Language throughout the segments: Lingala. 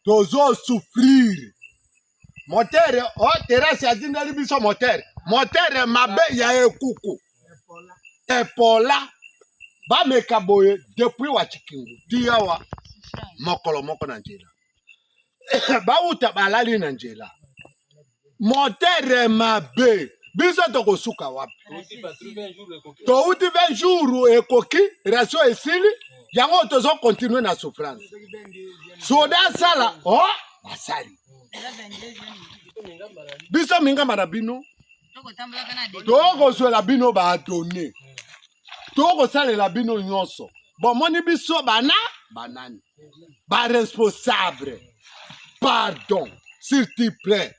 tozo souffrir motere o oh, terasi atindeli biso motere motere mabe ya ekuku epola bameka boye depuis wachikingu tiyawa mokolo moko na nzela bawuta balali na nzela motere mabe biso tokosuka wapi touti 20 jour ekoki ratio esili yango tozo continue na souffrance soda asala o oh, asali biso mingamba na bino tokozwela bino badone tokosalela bino nyonso bomoni biso bana banani ba responsable pardon s'il te plaît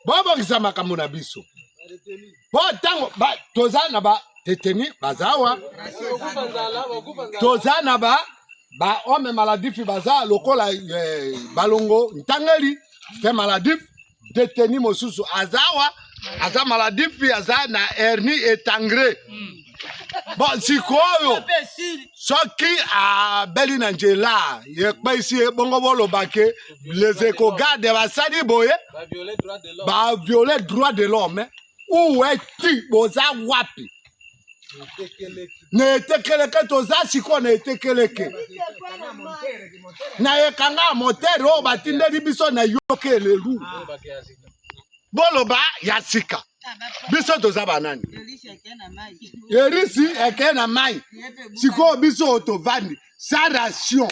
bobongisa makambo na biso po ntango toza na ba deteni bazawa toza na ba ba homme maladif baza lokola eh, balongo ntangeli fe maladif detenu mosusu aza awa aza maladie mpe aza na hernie etangre mm. bon sikoyo soki abeli na nzela ekpeisi ye bongo bolobake les ecogarde basali boye baviole droit de l'homme uwe ti boza wapi na etekeleke toza sikoyo na etekeleke na ekanga ya motere oyo batindeli biso na yoka elelu boloba ya sika biso toza banani erisi eke na mai sikoyo biso tovandi sa ration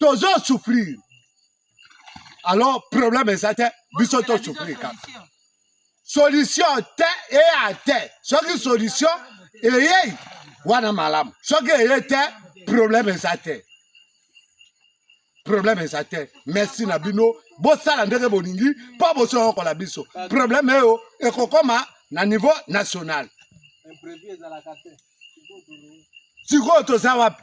tozo souffrir alors problème eza te biso to souffrir kaka solution te eya te soki solution eyei wana malamu soki eye te problème eza te problème eza te merci na bino bosala ndenge bolingi mpo bosoyokola biso problème eyo ekokoma na niveau national sikoyo toza wapi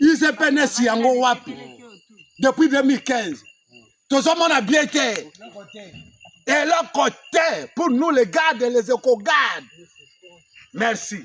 usepns yango wapi depuis 2015 tozomona bien te eloko te pour nous les gardes les ecogardes merci